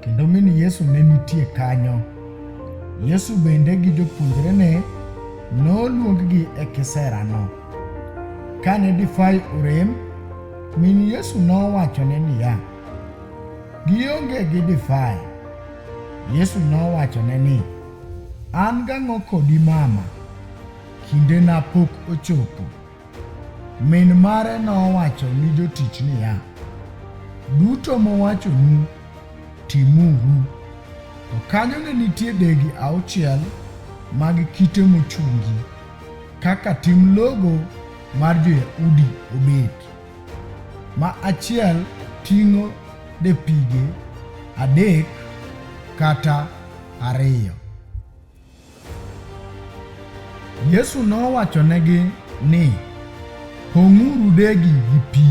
kendo min Yesu ne nitie kanyo. Yesu bende gi jopuonjrene noluonggi e kiserano. Kane difai orem, min Yesu nowachone niya, Gionge gi difai. Yesu nowachone ni, An gang'o kodi mama? Kindena pok ochopo. Min mare nowacho ni jotich niya, Duto mowachonu timuru. To kanyo ne nitie degi auchiel mag kite mochungi, kaka tim logo mar jo-Yahudi obet, ma achiel ting'o depige adek kata ariyo. Yesu nowachonegi ni, Pong'uru degi gi pi.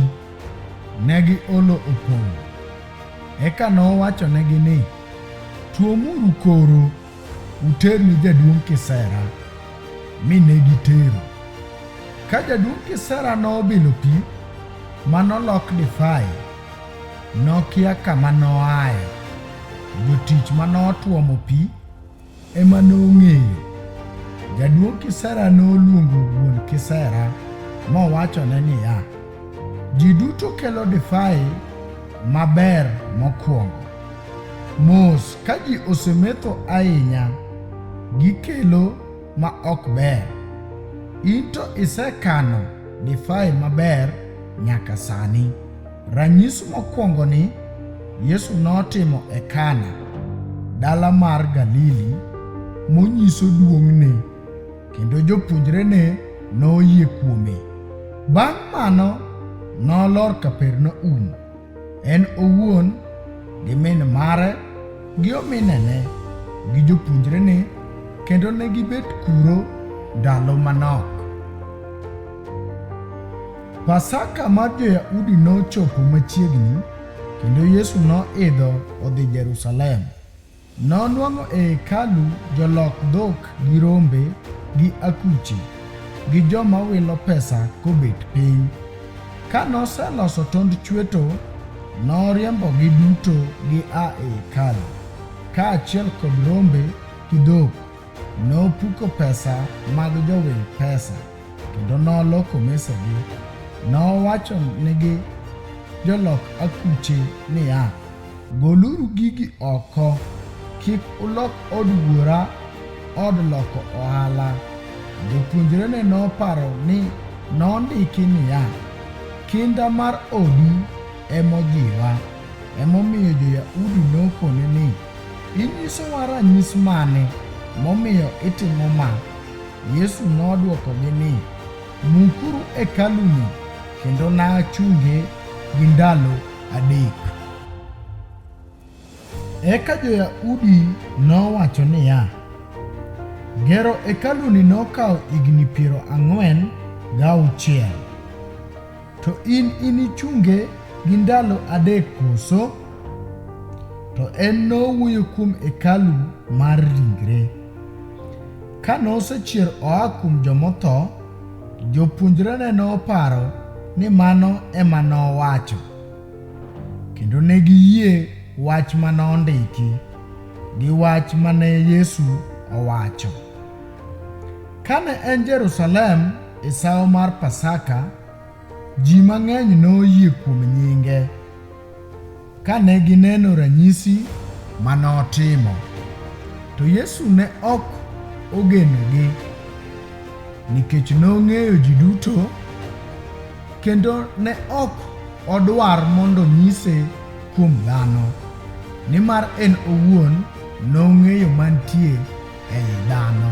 Ne giolo opong'o. Eka nowachonegi ni, Tuomuru koro uter ni jaduong' kisera. Mi ne gitero. Ka jaduong' kisera nobilo pi ma nolok divai, nokia kama noaye. Jotich ma notuomo pi ema nong'eyo. Jaduong' kisera noluongo wuon kisera mowachone niya, Ji duto kelo divai maber mokwongo. Mos ka ji osemetho ahinya, gikelo ma ok ber. In to isekano divai maber nyaka sani. Ranyisi mokwongo ni Yesu notimo e Kana, dala mar Galili, monyiso duong'ne, kendo jopuonjrene noyie kuome. Bang' mano, nolor Kapernaum, en owuon gi min mare gi ominene gi jopuonjrene kendo ne gibet kuro ndalo manok. Pasaka mar Jo-Yahudi nochopo machiegni, kendo Yesu noidho odhi Jerusalem. Nonwang'o e hekalu jolok dhok gi rombe gi akuche gi joma wilo pesa kobet piny. Ka noseloso tond chweto, noriembogi duto gia e hekalu, kaachiel kod rombe gi dhok. Nopuko pesa mag jowil pesa, kendo noloko mesegi. Nowacho nigi jolok akuche niya, Goluru gigi oko, kik ulok od wuora od loko ohala. Jopuonjrene noparo ni nondiki niya, Kinda mar odi emojiwa. Emomiyo jo-Yahudi nokone ni, Inyisowa ranyis mane momiyo itimo ma? Yesu nodwokogi ni, Mukuru hekaluni kendo nachunge gi ndalo adek. Eka jo-Yahudi nowacho niya, Gero hekaluni nokawo higni piero ang'wen gauchiel. To in inichunge gi ndalo adek koso? To en nowuoyo kuom hekalu mar ringre. Ka nosechier oa kuom jomotho, jopuonjrene noparo ni mano ema nowacho, kendo ne giyie wach ma nondiki gi wach ma ne Yesu owacho. Kane en Jerusalem, E sawo mar Pasaka, ji mang'eny noyie kuom nyinge ka ne gineno ranyisi ma notimo. To Yesu ne ok ogenogi nikech nong'eyo ji duto kendo ne ok odwar mondo onyise kuom dhano, nimar en owuon nong'eyo mantie ei dhano.